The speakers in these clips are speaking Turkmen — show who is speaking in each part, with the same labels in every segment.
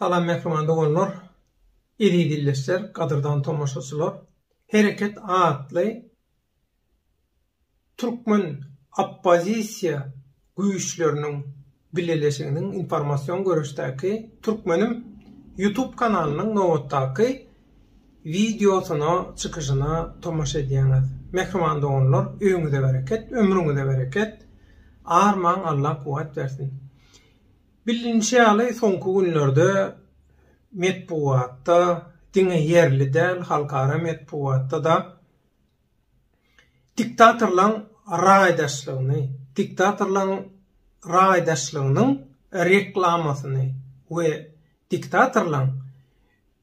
Speaker 1: Salam mähriban doganlar, eziz ildeşler, gadyrdan tomaşaçylar. Hereket atly Türkmen oppozisiýa güýçleriniň bileleşiginiň informasion görüşdäki Türkmenim YouTube kanalynyň nobatdaky wideosyna, çykyşyna tomaşa edýäňiz. Mähriban doganlar, öýüňize bereket, ömrüňize bereket, armaň Allah kuwwat bersin. Bilinişi ýaly, soňky günlerde metbugatda, diňe ýerli däl, halkara metbugatda-da Diktatorlaň raýdaşlygyny, diktatorlaň raýdaşlygynyň reklamasyny we diktatorlaň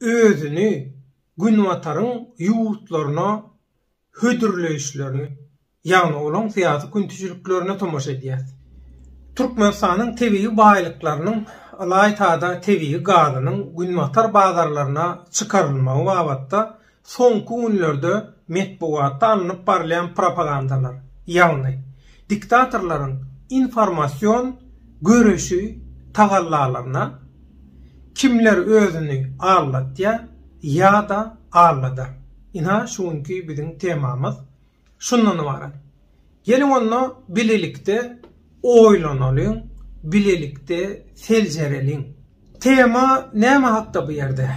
Speaker 1: özüni Günbataryň ýurtlaryna hödürleýişlerini, ýagny olaň syýasy küntijiliklerine tomaşa edýäs. Türkmenistanyň tebigy baýlyklarynyň, ylaýta-da tebigy gazynyň Günbatar bazarlaryna çykarylmagy babatda Soňky günlerde metbugatda alnyp barylýan propagandalar, ýagny diktatorlaryň informasion göreşi tagallalaryna kimler özüni aldatýar ýa-da aldadar? Ynha şu günki biziň temamyz. Şundan ybarat. Geliň onda bilelikde oýlanalyň, bilelikde seljereliň. Tema näme hakda bu ýerde?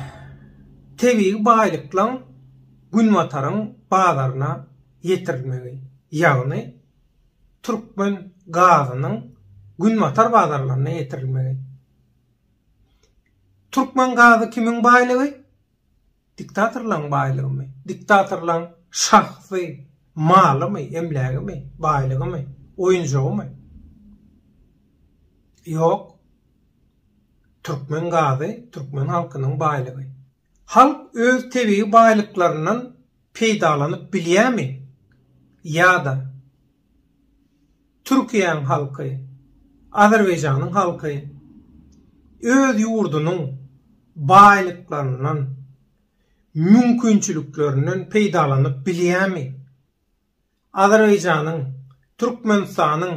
Speaker 1: Tebigy baýlyklaň Günbataryň bazaryna ýetirilmegi, ýagny türkmen gazynyň Günbatar bazarlaryna ýetirilmegi. Türkmen gazy kimiň baýlygy? Diktatorlaň baýlygymy? Diktatorlaň şahsy malymy, emlägimi, baýlygymy, oýunjagymy? Ýok. Türkmen gazy türkmen halkynyň baýlygy. Halk öz tebigy baýlyklaryndan peýdalanyp bilýämi? Ýa-da Türkiýäň halky, Azerbaýjanyň halky öz ýurdunyň baýlyklaryndan, mümkinçiliklerinden peýdalanyp bilýärmi? Azerbaýjanyň, Türkmenistanyň,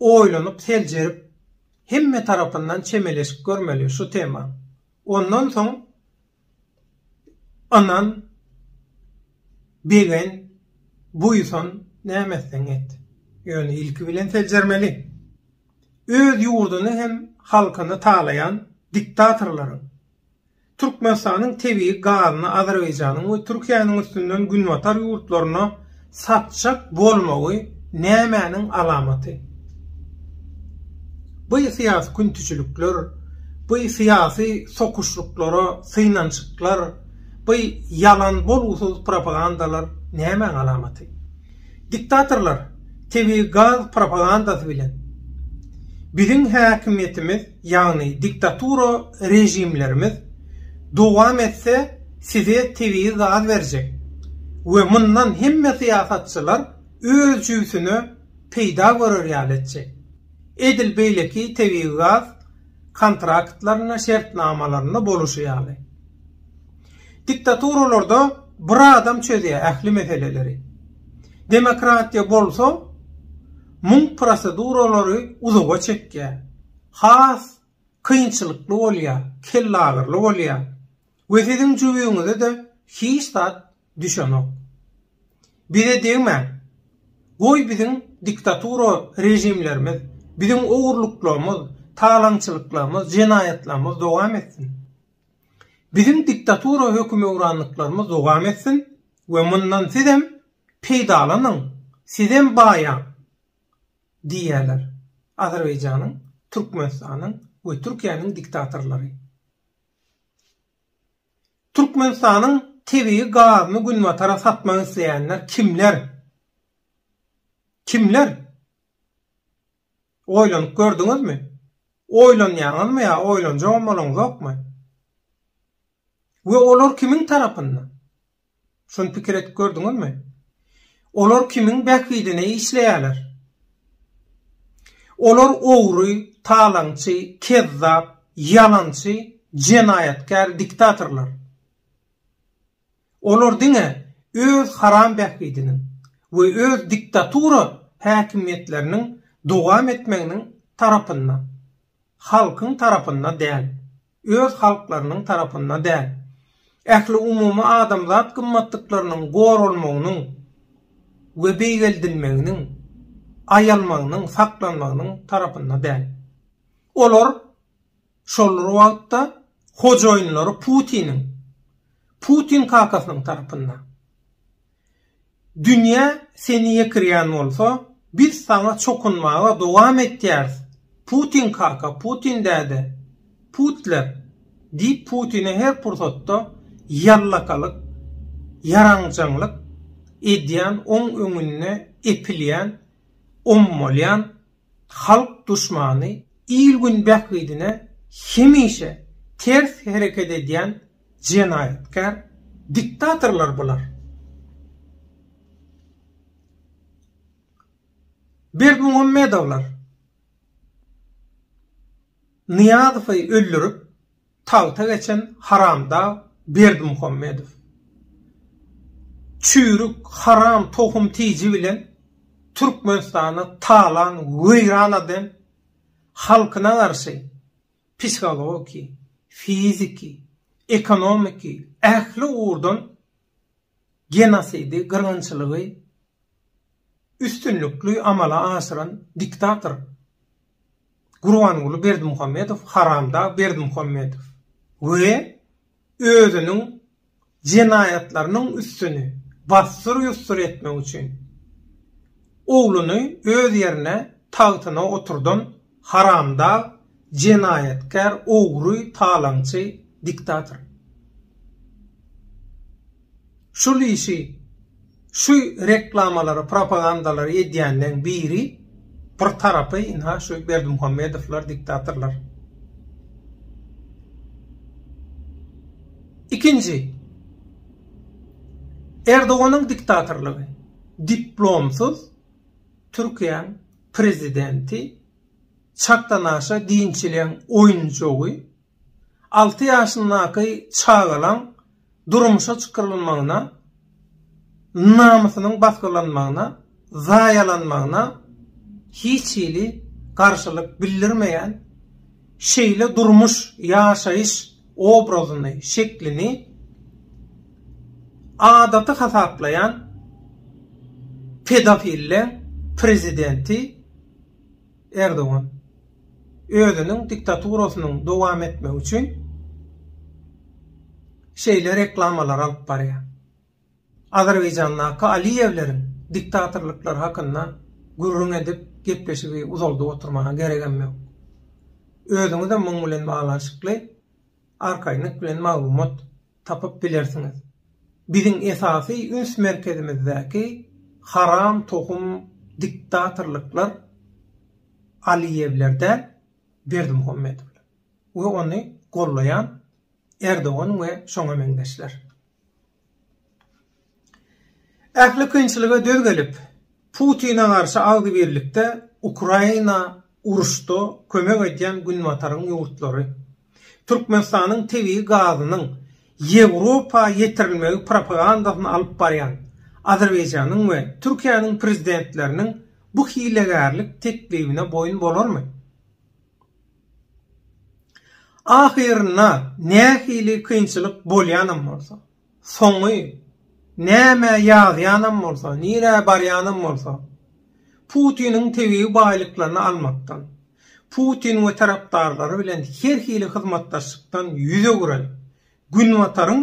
Speaker 1: Oýlanyp seljerip hemme tarapyndan çemeleşip görmeli şu tema. Ondan soň ynan, begen, buýsan, näme etseň et. Ýöne ilki bilen seljermeli. Öz ýurduny hem halkyny talaýan diktatorlaryň, Türkmenistanyň tebigy gazyny Azerbaýjanyň we Türkiýäniň üstünden günbatar ýurtlaryna satjak bolmagy nämäniň alamaty? Bu syýasy küntijilikler, bu syýasy sokuşlyklara synanyşyklar, bu ýalan bolgusyz propagandalar nämäň alamaty? Diktatorlar tebigy gaz propagandasy bilen biziň häkimiýetimiz, ýagny diktatura režimlerimiz dowam etse size tebigy gaz berjek we mundan hemme syýasatçylar öz jübsüne peýda görer ýaly etjek. Edil beýleki tebigy gaz kontraktlarynda, şertnamalarynda boluşy ýaly. Diktaturalarda bir adam çözýär ähli meseleleri. Demokratiýa bolsa muň proseduralary uzaga çekýär. Has kynçylykly bolýar, kellagyryly bolýar we siziň jübiňize-de hiç zat düşenok. Bize degmäň. Goý biziň diktatura režimlerimiz, biziň ogurlyklarymyz, talaňçylyklarymyz, jenaýatlarymyz dowam etsin. Biziň diktatura hökümewranlyklarymyz dowam etsin we mundan sizem peýdalanyň, sizem baýaň! diýýärler Azerbaýjanyň, Türkmenistanyň we Türkiýäniň diktatorlary. Türkmenistanyň tebigy gazyny Günbatara satmak isleýänler kimler? Kimler? Oýlanyp gördüňizmi? Oýlanýaňyzmy ýa oýlanjagam bolaňzokmy? We olar kimiň tarapynda? Şuny pikir edip gördüňizmi? Olar kimiň bähbidine işleýärler? Olar ogry, talaňçy, kezzap, ýalançy, jenaýatkär diktatorlar. Olar diňe öz haram bähbidiniň we öz diktatura häkimiýetleriniň dowam etmeginiň tarapynda, halkyň tarapynda däl, öz halklarynyň tarapynda däl, ähliumumy adamzat gymmatlyklarynyň goralmagynyň we beýgeldilmeginiň, aýalmagynyň, saklanmagynyň tarapynda däl. Olar Şol bir wagtda, hojaýynlary Putiniň, Putin kakasynyň tarapynda, Dünýä seni ýekirýän bolsa, biz saňa çokunmaga dowam etýäris, Putin kaka, Putin däde, Putler! diýip Putine her pursatda ýallakalyk, ýaranjaňlyk edýän, oň öňünde epilýän, ommalýan, halk duşmany, il-gün bähbidine hemişe ters hereket edýän jenaýatkär diktatorlar bular. Berdimuhammedowlar Nyýazowy öldürip, Tagta geçen haramdag Berdimuhammedow. Çüýrük haram tohum tiji bilen Türkmenistany talan weýran aden halkyna garşy psihologiki, fiziki, ekonomiki ähli ugurdan genosidi, gyrgynçylygy üstünlikli amala aşyran diktator Gurbanguly Berdimuhamedow, haramdag Berdimuhamedow we özüniň jenaýatlarynyň üstüni bassyr-ýussur etmek üçin ogluny öz ýerine, tagtyna oturdan Haramdag, jenaýatkär, ogry, talaňçy, diktator. Şul işi, şu reklamalary, propagandalary edýänleň biri, bir tarapy ynha şu Berdimuhamedowlar, diktatorlar. Ikinji, Erdoganyň diktatorlygy, diplomsyz Türkiýäň prezidenti çakdanaşa diýinçleň oýunjagy, alty ýaşyndaky çagalaň durmuşa çykarylmagyna, namysynyň basgylanmagyna, zaýalanmagyna hiç hili garşylyk bildirmeýän, şeýle durmuş, ýaşaýyş obrazyny, şeklini adaty hasaplaýan pedofilleň prezidenti Erdogan özüniň diktaturasynyň dowam etmegi üçin şeýle reklamalar alyp barýar. Azerbaýjandaky Aliýewleriň diktatorlyklary hakynda gürrüň edip, gepleşigi uzaldyp oturmaga geregem ýok. Özüňizem muň bilen baglanyşykly arkaýynlyk bilen maglumat tapyp bilersiňiz. Biziň esasy üns merkezimizdäki haram tohum diktatorlyklar Aliýewler däl, Berdimuhamedowlar we ony gollaýan Erdogan we şoňa meňzeşler. Ähli kynçylyga döz gelip, Putine garşy agzybirlikde Ukraina uruşda kömek edýän Günbataryň ýurtlary, Türkmenistanyň tebigy gazynyň Ýewropa ýetirilmegi propagandasyny alyp barýan Azerbaýjanyň we Türkiýäniň prezidentleriniň bu hilegärlik teklibine boýun bolarmy? Ahyrynda nähili kynçylyk bolýanam bolsa, soňy nämä ýazýanam bolsa, nirä barýanam bolsa, Putiniň tebigy baýlyklaryny almakdan, Putin we tarapdarlary bilen her hili hyzmatdaşlykdan ýüz öwüren Günbataryň,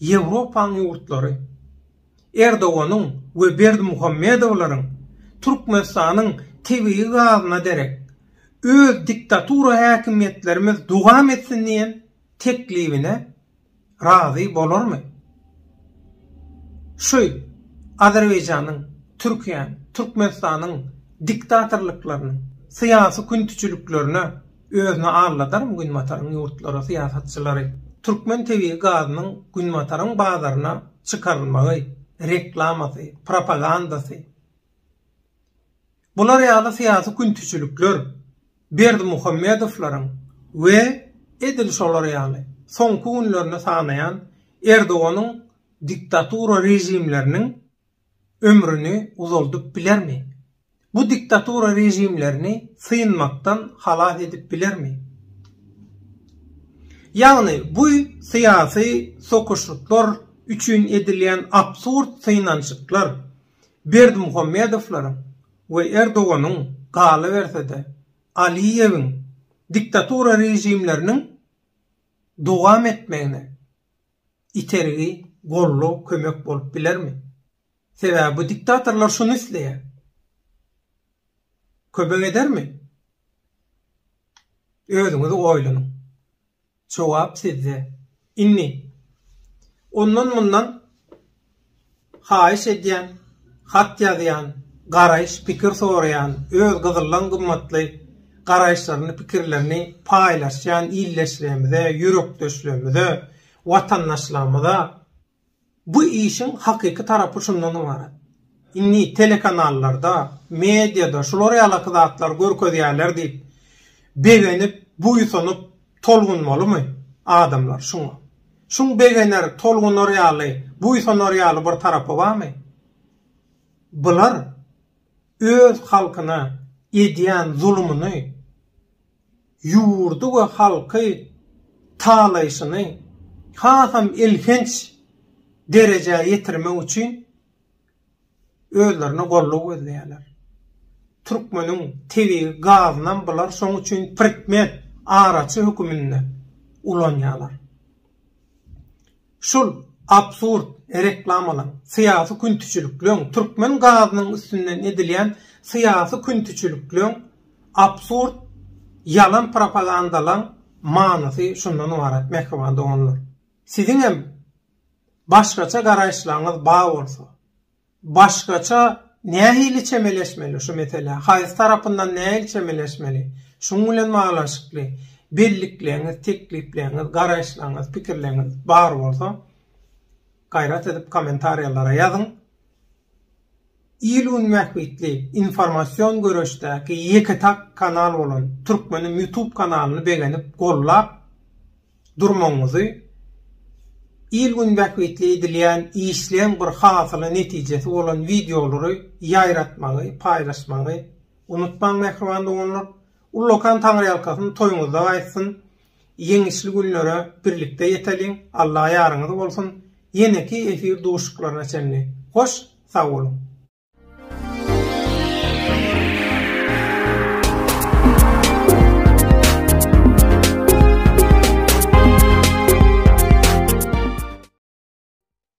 Speaker 1: Ýewropaň ýurtlary Erdoganyň we Berdimuhamedowlaryň Türkmenistanyň tebigy gazyna derek, öz diktatura häkimiýetlerimiz dowam etsin diýen teklibine razy bolarmy? Şu Azerbaýjanyň, Türkiýäň, Türkmenistanyň diktatorlyklarynyň syýasy küntijiliklerine Özüni aldadarmy Günbataryň ýurtlary, syýasatçylary? Türkmen tebigy gazynyň Günbataryň bazaryna çykarylmagy, reklamasy, propagandasy. Bular ýaly syýasy küntiçilikler Berdimuhamedowlaryň we edil şolar ýaly soňky günlerini sanaýan Erdoganyň diktatura režimleriniň, ömrüni uzaldyp bilermi? Bu diktatura režimlerini synmakdan halas edip bilermi? Ýagny bu syýasy sokuşyklar üçin edilýän absurd synanyşyklar Berdimuhamedowlaryň we Erdoganyň, galyberse-de, Aliýewiň diktatura režimleriniň dowam etmegine, itergi, goldaw, kömek bolup bilermi? Sebäbi bu diktatorlar şuny isleýär. Kömek edermi? Özüňiz oýlanyň. Jogap sizde. Indi ondan-mundan Haýyş edýän, hat ýazýan, garaýyş, pikir soraýan, öz gyzyldan gymmatly garaýyşlaryny, pikirlerini paýlaşýan ildeşlerimize, ýürekdeşlerimize, watandaşlarymyza bu işiň hakyky tarapy şundan ybarat. Indi telekanallarda, mediada şular ýalaky zatlary görkezýärler diýip, begenip, buýsanyp, Tolgunmalymy adamlar şuňa? Şuň begener, tolgunar ýaly, buýsanar ýaly bir tarapy barmy? Bular öz halkyna edýän zulumyny, ýurdy we halky talaýşyny hasam elhenç derejä ýetirmek üçin Özlerine golluw gözleýärler. Türkmeniň tebigy gazynam bular şoň üçin prikmet, araçy höküminde ulanýarlar. Şul absurd reklamalaň, syýasy küntiçilikleň, türkmen gazynyň üstünden edilýän syýasy küntiçilikleň, absurd ýalan propagandalaň manysy şundan ybarat mähriban doganlar. Siziňem başgaça garaýyşlaryňyz bar bolsa, başgaça nähili çemeleşmeli şu meselä, haýsy tarapyndan nähili çemeleşmeli, şuň bilen baglanyşykly bellikleýňiz, teklipleýňiz, garaýyşlaryňyz, pikirleýňiz bar bolsa, gaýrat edip kommentariýalara ýazyň, Il gün bähbitli informasion göreşdäki ýeke tak kanal bolan Türkmenim ýutub kanalyny begenip gollap durmagyňyzy il gün bähbitli edilýän işleň bir hasyly netijesi bolan wideolary ýaýratmagy paýlaşmagy unutmaň mähriban doganlar ullakan taňryýalkasyn toýuňyzda gaýtsyn. Ýeňişli günlere birlikde ýeteliň, Alla ýaryňyz bolsun, ýeneki efir duşuklaryna çenli hoş sag boluň.